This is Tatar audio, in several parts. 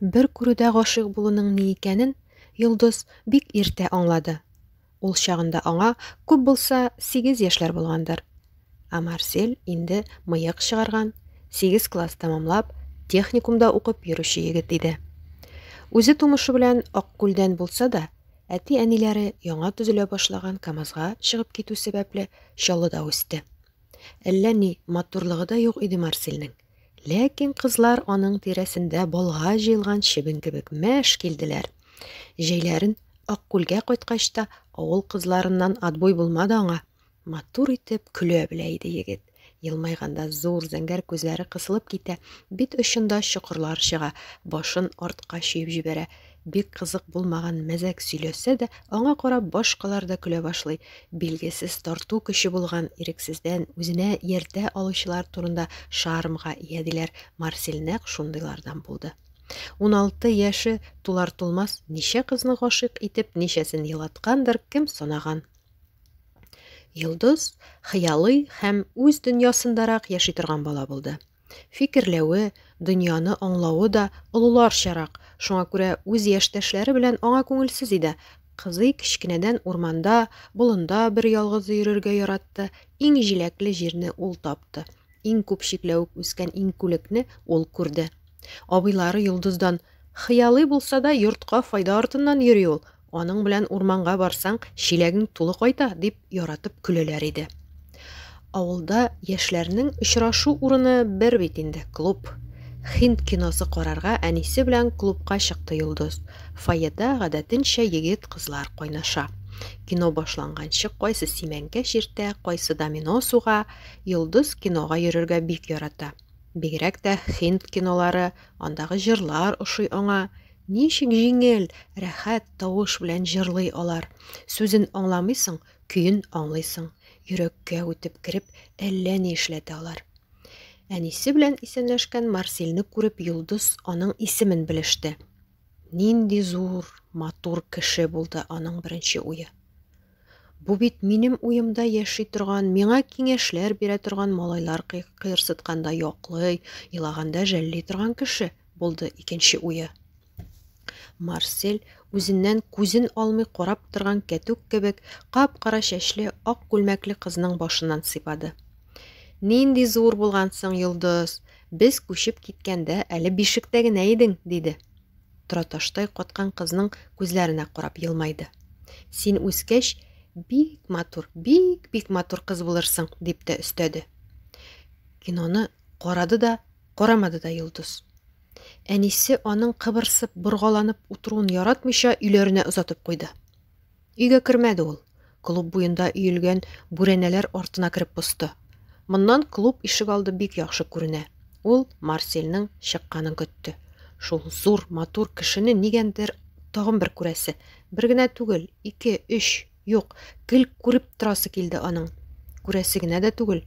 Бер күрүдә гашыйк булуның ни икәнен Йолдыз бик иртә аңлады. Ул чагында аңа күп булса сигез яшьләр булгандыр. Ә Марсель инде мыек чыгарган, сигез класс тәмамлап, техникумда укып йөрүче егет иде. Үзе тумышы белән Аккүлдән булса да, әти-әниләре яңа төзелә башлаган КАМАЗга чыгып китү сәбәпле, Чаллыда үсте. Әллә ни матурлыгы да юк иде Марсельнең. Ләкин кызлар аның тирәсендә болга җыелган чебен кебек мәш килделәр. Җәйләрен Аккүлгә кайткач та авыл кызларыннан отбой булмады аңа. Матур итеп көлә белә иде егет. Елмайганда зур зәңгәр күзләре кысылып китә, бит очында чокырлар чыга, башын артка чөеп җибәрә. Бик кызык булмаган мәзәк сөйләсә дә, аңа карап башкалар да көлә башлый. Билгесез тарту көче булган, ирексездән үзенә ияртә алучылар турында шармга ия, диләр. Марсель нәкъ шундыйлардан булды. Уналты яше тулар-тулмас ничә кызны гашыйк итеп, ничәсен елаткандыр, кем санаган. Йолдыз хыялый һәм үз дөньясындарак яши торган бала булды. Фикерләве, дөньяны аңлавы да олыларчарак, шуңа күрә үз яшьтәшләре белән аңа күңелсез иде. Кызый кечкенәдән урманда, болында бер ялгызы йөрергә яратты. Иң җиләкле җирне ул тапты. Иң күп чикләвек үскән иңкүлекне ул күрде. Абыйлары Йолдыздан, Хыялый булса да, йортка файда артыннан йөри ул, Аның белән урманга барсаң, чиләгең тулы кайта, дип яратып көләләр иде. Авылда яшьләрнең очрашу урыны бер бит инде, клуб. Хинд киносы карарга әнисе белән клубка чыкты Йолдыз. Фойеда гадәтенчә егет-кызлар кайнаша. Кино башланганчы кайсы симәнкә чиртә, кайсы домино суга, Йолдыз кинога йөрергә бик ярата. Бигрәк тә хинд кинолары, андагы җырлар ошый аңа. Ничек җиңел, рәхәт тавыш белән җырлый алар. Сүзен аңламыйсың, көен аңлыйсың. Йөрәккә үтеп кереп, әллә ни эшләтә алар. Әнисе белән исәнләшкән Марсилне күреп, Йолдыз аның исемен белеште. Нинди зур, матур кеше булды аның беренче уе. Бу бит минем уемда яши торган, миңа киңәшләр бирә торган, малайлар кыерсытканда яклый, елаганда жәлли торган кеше, булды икенче уе. Марсель, үзеннән күзен алмый карап торган кәтүк кебек, кап-кара чәчле, ак күлмәкле кызның башыннан сыйпады. Нинди зур булгансың, Йолдыз! Без күчеп киткәндә әле бишектә генә идең, диде. тораташтай каткан кызның күзләренә карап елмайды. Син үскәч, бик матур, бик бик матур кыз булырсың, дип тә өстәде. Киноны карады да, карамады да Йолдыз. Әнисе аның кыбырсып, боргаланып утыруын яратмыйча, өйләренә озатып куйды. Өйгә кермәде ул. Клуб буенда өелгән бүрәнәләр артына кереп посты. Моннан клуб ишегалды бик яхшы күренә. Ул Марсельның чыкканын көтте. Шул зур, матур кешене нигәндер тагын бер күрәсе. Бер генә түгел, ике, өч, юк, гел күреп торасы килде аның. Күрәсе генә дә түгел,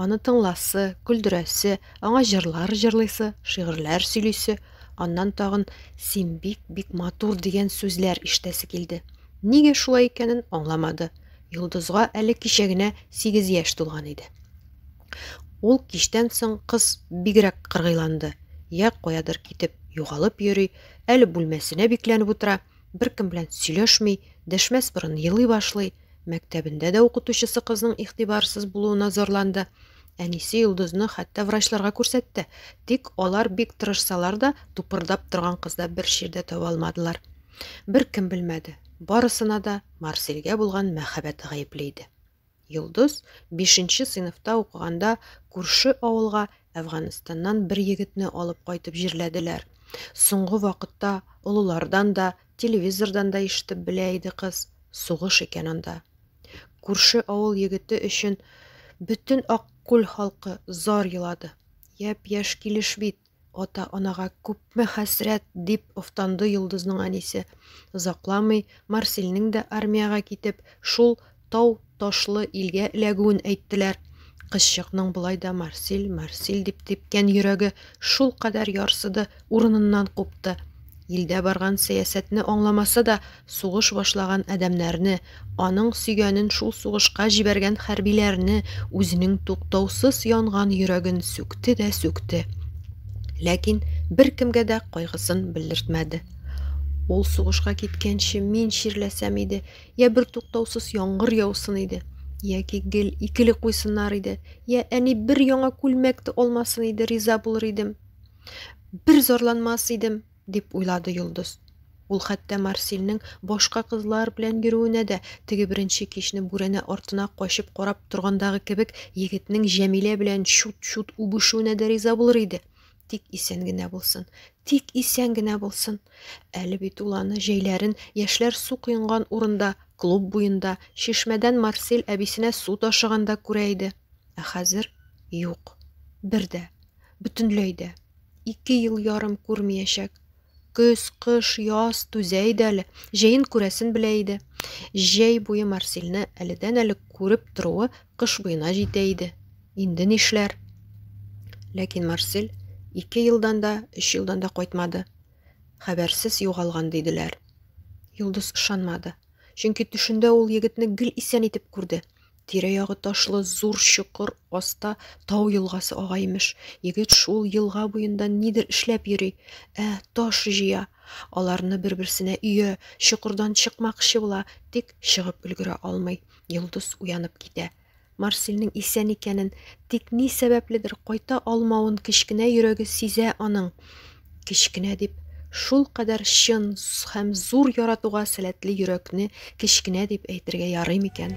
аны тыңласы, көлдерәсе, аңа җырлар җырлыйсы, шигырьләр сөйлисе, Аннан тагын син бик бик матур дигән сүзләр ишетәсе килде. Нигә шулай икәнен аңламады. Йолдызга әле кичә генә 8 яшь тулган иде. Ул кичтән соң кыз бигрәк кыргыйланды. Я каядыр китеп югалып йөри, әле бүлмәсенә бикләнеп утыра. беркем белән сөйләшми, дәшмәс борын елый башлый. Мәктәбендә дә укытучысы кызның игътибарсыз булуына зарланды. Әнисе Йолдызны хәтта врачларга күрсәтте. Тик алар бик тырышсалар да, тупырдап торган кызда бер чирдә таба алмадылар. Бер кем белмәде. Барысына да Марселгә булган мәхәббәте гаепле иде. Йолдыз бишенче сыйныфта укыганда күрше авылга Әфганстаннан бер егетне алып кайтып җирләделәр. Соңгы вакытта олылардан да, телевизордан да ишетеп белә иде кыз, сугыш икән анда. Күрше авыл егете өчен бөтен Аккүл халкы зар елады. Яп-яшь килеш бит, Ата-анага күпме хәсрәт, дип офтанды Йолдызның әнисе. Озакламый Марселнең дә армиягә китеп, шул тау-ташлы илгә эләгүен әйттеләр. Кызчыкның болай да Марсел, Марсел дип типкән йөрәге шул кадәр ярсыды, урыныннан купты. Илдә барган сәясәтне аңламаса да, сугыш башлаган адәмнәрне, аның сөйгәнен шул сугышка җибәргән хәрбиләрне үзенең туктаусыз янган йөрәген сүкте дә сүкте. Ләкин беркемгә дә кайгысын белдертмәде. Ул сугышка киткәнче мин чирләсәм иде, я бер туктаусыз яңгыр яусын иде, яки гел икеле куйсыннар иде, я әни бер яңа күлмәк тә алмасын иде, риза булыр идем. Бер зарланмас идем, дип уйлады Йолдыз. Ул хәтта Марсилнең башка кызлар белән йөрүенә дә теге беренче кичне бүрәнә артына качып карап торгандагы кебек егетнең Җәмилә белән чут-чут үбешүенә дә риза булыр иде. Тик исән генә булсын. Тик исән генә булсын. Әле бит ул аны җәйләрен яшьләр су коенган урында, клуб буенда, чишмәдән Марсил әбисенә су ташыганда күрә иде. Ә хәзер юк. Бер дә, бөтенләй дә. Ике ел ярым күрмиячәк. Көз, кыш, яз түзә иде әле. Җәен күрәсен белә иде. Җәй буе Марсилне әледән-әле күреп торуы кыш буена җитә иде. Инде нишләр? Ләкин Марсил ике елдан да, өч елдан да кайтмады. Хәбәрсез югалган диделәр. Йолдыз ышанмады. Чөнки төшендә ул егетне гел исән итеп күрде. Тирә-ягы ташлы зур чокыр аста тау елгасы ага имеш. Егет шул елга буенда нидер эшләп йөри. Ә, таш җыя. Аларны бер-берсенә өя, чокырдан чыкмакчы була, тик чыгып өлгерә алмый. Йолдыз уянып китә. Марсельнең исән икәнен, тик ни сәбәпледер кайта алмавын кечкенә йөрәге сизә аның. Кечкенә дип шул кадәр чын һәм зур яратуга сәләтле йөрәкне кечкенә дип әйтергә ярый микән?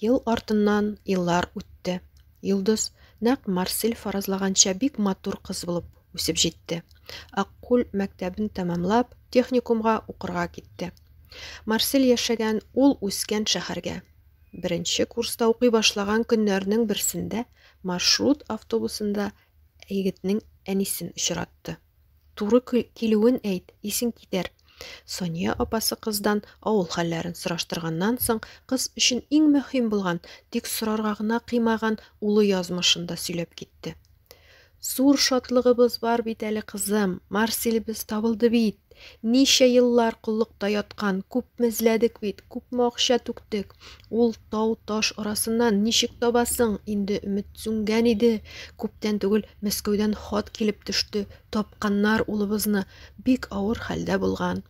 Ел артыннан еллар үтте. Йолдыз нәкъ Марсель фаразлаганча бик матур кыз булып үсеп җитте. Аккүл мәктәбен тәмамлап, техникумга укырга китте. Марсель яшәгән ул үскән шәһәргә. Беренче курста укый башлаган көннәрнең берсендә маршрут автобусында егетнең әнисен очратты. Туры килүен әйт, исең китәр. Сания апасы кыздан авыл хәлләрен сораштырганнан соң, кыз өчен иң мөһим булган, тик сорарга гына кыймаган улы язмышын да сөйләп китте. Зур шатлыгыбыз бар бит әле, кызым, Марсилебез табылды бит. Ничә еллар коллыкта яткан, күпме эзләдек бит, күпме акча түктек, Ул тау-таш арасыннан ничек табасың? Инде өмет сүнгән иде. Күптән түгел Мәскәүдән хат килеп төште. Тапканнар улыбызны. Бик авыр хәлдә булган.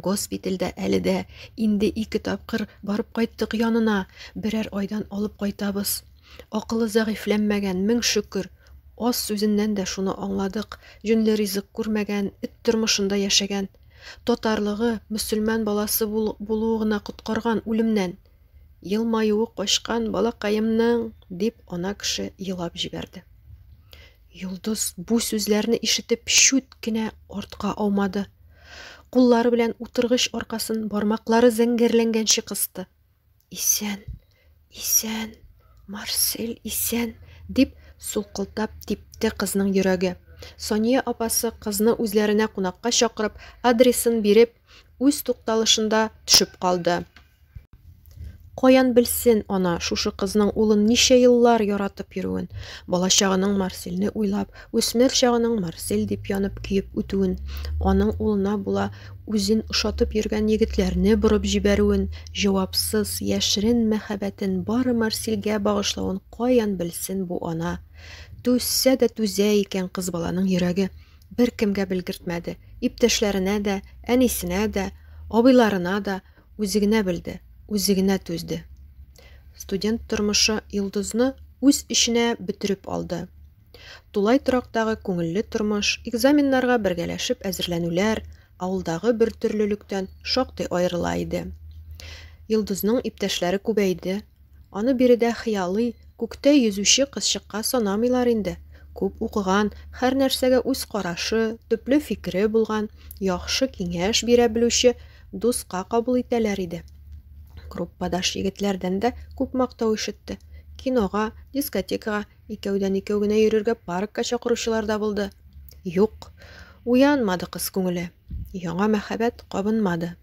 Госпитальдә әле дә. Инде ике тапкыр барып кайттык янына. Берәр айдан алып кайтабыз. Акылы зәгыйфьләнмәгән, мең шөкер. Аз сүзеннән дә шуны аңладык. Җүнле ризык күрмәгән, эт тормышында яшәгән. Татарлыгы, мөселман баласы булуы гына коткарган үлемнән! Елмаюы качкан балакаемның! дип, ана кеше елап җибәрде. Йолдыз бу сүзләрне ишетеп шүт кенә артка аумады. Куллары белән утыргыч аркасын бармаклары зәңгәрләнгәнче кысты. Исән, исән, Марсель исән, дип сулкылтап типте кызның йөрәге. Сония апасы кызны үзләренә кунакка чакырып, адресын биреп, үз тукталышында төшеп калды. Каян белсен ана шушы кызның улын ничә еллар яратып йөрүен, балачагының Марсельне уйлап, Үсмер чагының Марсель дип янып-көеп үтүен, аның улына була үзен ошатып йөргән егетләрне борып җибәрүен, җавапсыз, яшерен мәхәббәтен бары Марсельгә багышлавын каян белсен бу ана? Түзсә дә түзә икән кыз баланың йөрәге. Беркемгә белгертмәде. Иптәшләренә дә, әнисенә дә, абыйларына да үзе генә белде, үзе генә түзде. Студент тормышы Йолдызны үз эченә бөтереп алды. Тулай торактагы күңелле тормыш, экзаменнарга бергәләшеп әзерләнүләр авылдагы бертөрлелектән шактый аерыла иде. Йолдызның иптәшләре күбәйде. Аны биредә хыялый, күктә йөзүче кызчыкка санамыйлар инде. Күп укыган, һәр нәрсәгә үз карашы, төпле фикере булган, яхшы киңәш бирә белүче дуска кабул итәләр иде. Группадаш егетләрдән дә күп мактау ишетте. Кинога, дискотекага, Икәүдән-икәү генә йөрергә паркка чакыручылар да булды. Юк, уянмады кыз күңеле. Яңа мәхәббәт кабынмады.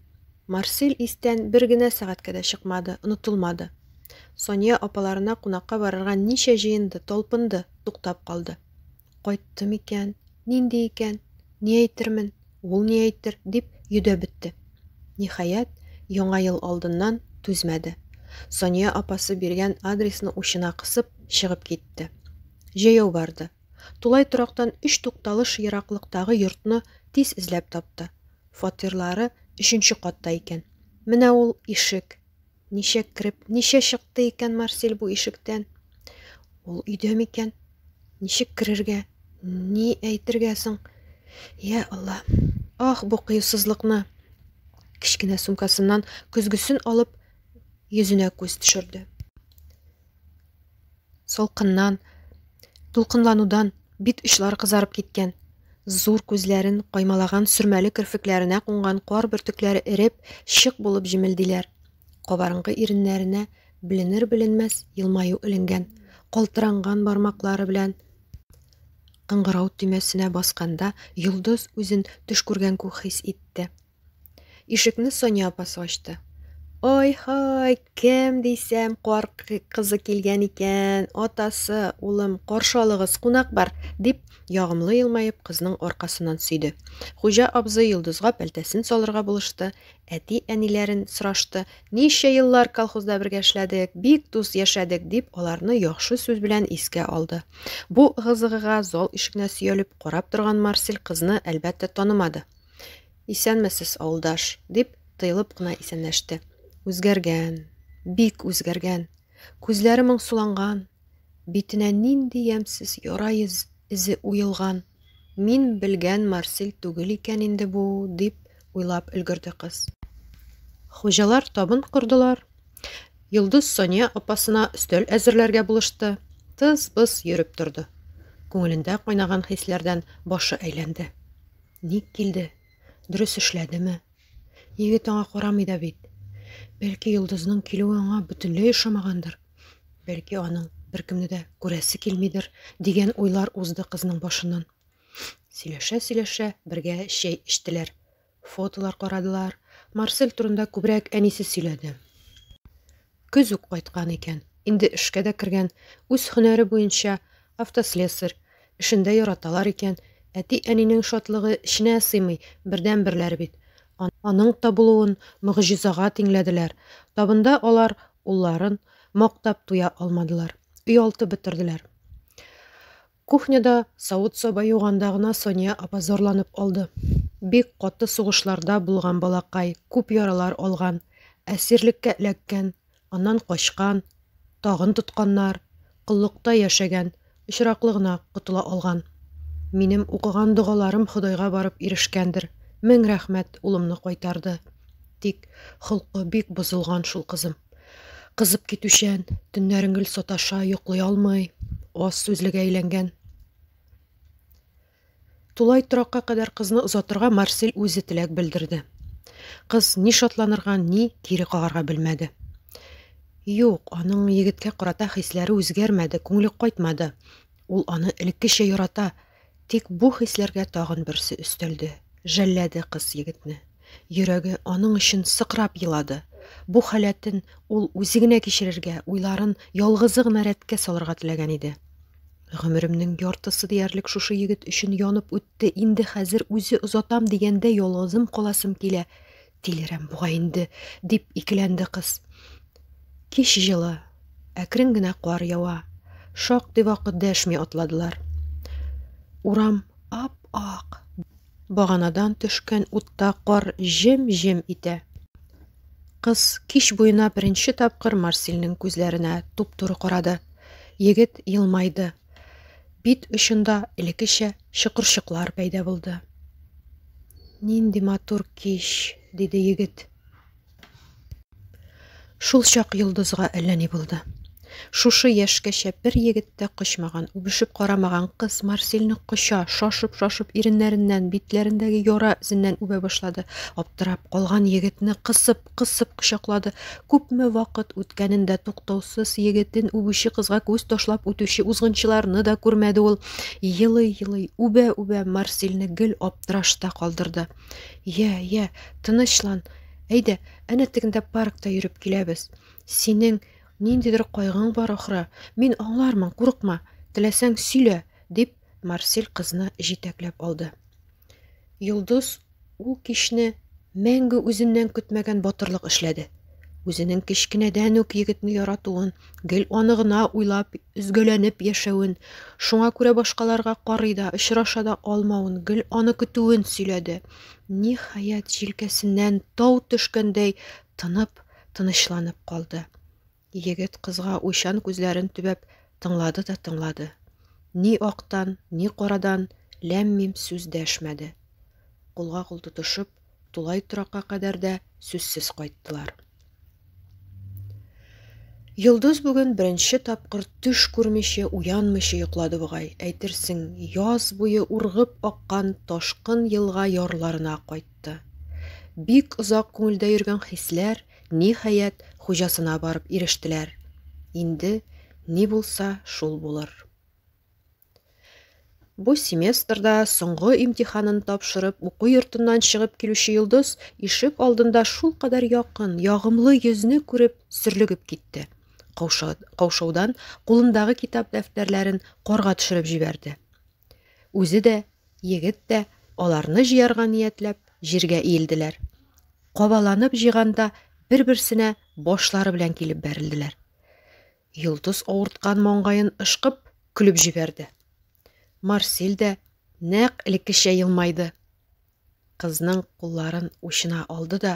Марсель истән бер генә сәгатькә дә чыкмады, онытылмады. Сония апаларына кунакка барырга ничә җыенды, талпынды, туктап калды. Кайтты микән? Нинди икән? Ни әйтермен, ул ни әйтер, дип йөдәп бетте. Ниһаять, Яңа ел алдыннан түзмәде. Сания апасы биргән адресны учына кысып, чыгып китте. Җәяү барды. Тулай торактан өч тукталыш ераклыктагы йортны тиз эзләп тапты. Фатирлары өченче катта икән. Менә ул ишек. Ничә кереп, ничә чыкты икән Марсель бу ишектән? Ул өйдә микән? Ничек керергә? Ни әйтергә соң? Я Алла! Ах, бу кыюсызлыкны! Кечкенә сумкасыннан көзгесен алып, йөзенә күз төшерде. Солкыннан, дулкынланудан бит очлары кызарып киткән. Зур күзләрен каймалаган сөрмәле керфекләренә кунган кар бөртекләре эреп, шык булып җемелдиләр. Кабарынкы иреннәренә беленер-беленмәс елмаю эленгән. Калтыранган бармаклары белән кыңгырау төймәсенә басканда йолдыз үзен төш күргән күк хис итте. Ишекне Соня апасы ачты. Ой-һай, кем дисәм, кар кызы килгән икән, атасы, улым, каршы алыгыз, кунак бар, дип, ягымлы елмаеп, кызның аркасыннан сөйде. Хуҗа абзый Йолдызга пәлтәсен салырга булышты, әти-әниләрен сорашты. Ничә еллар колхозда бергә эшләдек, бик дус яшәдек, дип, аларны яхшы сүз белән искә алды. Бу ыгы зал ишегенә сөялеп карап торган Марсель кызны, әлбәттә, танымады. Исәнмесез, авылдаш, дип, тыелып кына исәнләште. Үзгәргән, бик үзгәргән. Күзләре моңсуланган, битенә нинди ямьсез яра эзе уелган. Мин белгән Марсель түгел икән инде бу, дип уйлап өлгерде кыз. Хуҗалар табын кордылар. Йолдыз Соня апасына өстәл әзерләргә булышты. Тыз-быз йөреп торды. Күңелендә кайнаган хисләрдән башы әйләнде. Ник килде? Дөрес эшләдеме? Егет аңа карамый да бит. Бәлки йолдызның килүе аңа бөтенләй ошамагандыр. Бәлки аның беркемне дә күрәсе килмидер, дигән уйлар узды кызның башыннан. Сөйләшә-сөйләшә бергә чәй эчтеләр. Фотолар карадылар. Марсель турында күбрәк әнисе сөйләде. Көз үк кайткан икән. Инде эшкә дә кергән. Үз һөнәре буенча, автослесарь. Эшен дә яраталар икән. Әти-әнинең шатлыгы эченә сыймый, бердәнберләре бит. Аның табылуын могҗизага тиңләделәр. Табында алар улларын мактап туя алмадылар. Өйалты бетерделәр. Кухняда савыт-саба юганда гына Соня апа зарланып алды. Бик каты сугышларда булган балакай, күп яралар алган, әсирлеккә эләккән, аннан качкан, тагын тотканнар, коллыкта яшәгән, очраклы гына котыла алган. Минем укыган догаларым Ходайга барып ирешкәндер, мең рәхмәт, улымны кайтарды. Тик холкы бик бозылган шул кызым. Кызып китүчән, төннәрен гел саташа, йоклый алмый, аз сүзлегә әйләнгән. Тулай торакка кадәр кызны озатырга Марсель үзе теләк белдерде. Кыз ни шатланырга, ни кире кагарга белмәде. Юк, аның егеткә карата хисләре үзгәрмәде, күңеле кайтмады. Ул аны элеккечә ярата, Тик бу хисләргә тагын берсе өстәлде, жәлләде кыз егетне. Йөрәге аның өчен сыкрап елады. Бу халәтен ул үзе генә кичерергә, уйларын ялгызы гына рәткә салырга теләгән иде. Гомеремнең яртысы диярлек шушы егет өчен янып үтте, инде хәзер үзе озатам дигәндә ялгызым каласым килә, Тилерәм бугай инде, дип икеләнде кыз. Кич җылы, әкрен генә кар ява. Шактый вакыт дәшми атладылар. Урам ап-ак. Баганадан төшкән утта кар җем-җем итә. Кыз кич буена беренче тапкыр Марсилнең күзләренә туп-туры карады. Егет елмайды. Бит очында элеккечә чокырчыклар пәйда булды. Нинди матур кич, диде егет. Шул чак йолдызга әллә ни булды. Шушы яшькәчә бер егет тә кочмаган, үбешеп карамаган кыз Марсельны коча, шашып-шашып иреннәреннән, битләрендәге яра эзеннән үбә башлады. Аптырап калган егетне кысып, кысып кочаклады. Күпме вакыт үткәнен дә туктаусыз егетен үбүче кызга күз ташлап үтүче узгынчыларны да күрмәде ул. Елый-елый, үбә-үбә Марсилне гел аптырашта калдырды. Йә, йә, тынычлан. Әйдә, әнә тегендә паркта йөреп киләбез. Синең ниндидер кайгың бар ахры. Мин аңлармын, курыкма. Теләсәң сөйлә, дип Марсил кызны җитәкләп алды. Йолдыз ул кичне мәңге үзеннән көтмәгән батырлык эшләде. Үзенең кечкенәдән үк егетне яратуын, гел аны гына уйлап, өзгәләнеп яшәвен, шуңа күрә башкаларга карый да, очраша да алмавын, гел аны көтүен сөйләде. Ниһаять, җилкәсеннән тау төшкәндәй тынып, тынычланып калды. Егет кызга уйчан күзләрен төбәп тыңлады да тыңлады. Ни актан, ни карадан ләм-мим сүз дәшмәде. Кулга-кул тотышып, тулай торакка кадәр дә сүзсез кайттылар. Йолдыз бүген беренче тапкыр төш күрмичә, уянмыйча йоклады бугай. Әйтерсең, яз буе ургып аккан ташкын елга ярларына кайтты. Бик озак күңелдә йөргән хисләр Ниһаять, хуҗасына барып ирештеләр. Инде ни булса, шул булыр. Бу семестрда соңгы имтиханын тапшырып, уку йортыннан чыгып килүче Йолдыз ишек алдында шул кадәр якын, ягымлы йөзне күреп, сөрлегеп китте. Каушаудан кулындагы китап дәфтәрләрен корга төшереп җибәрде. Үзе дә, егет тә аларны җыярга ниятләп, җиргә иелделәр. Кабаланып җыйганда бер-берсенә башлары белән килеп бәрелделәр. Йолдыз авырткан маңгаен ышкып, көлеп җибәрде. Марсиль дә нәкъ элеккечә елмайды. Кызның кулларын учына алды да,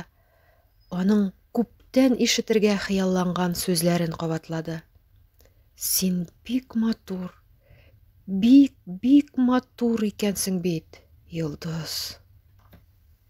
аның күптән ишетергә хыялланган сүзләрен кабатлады. Син бик матур, бик-бик матур икәнсең бит, Йолдыз.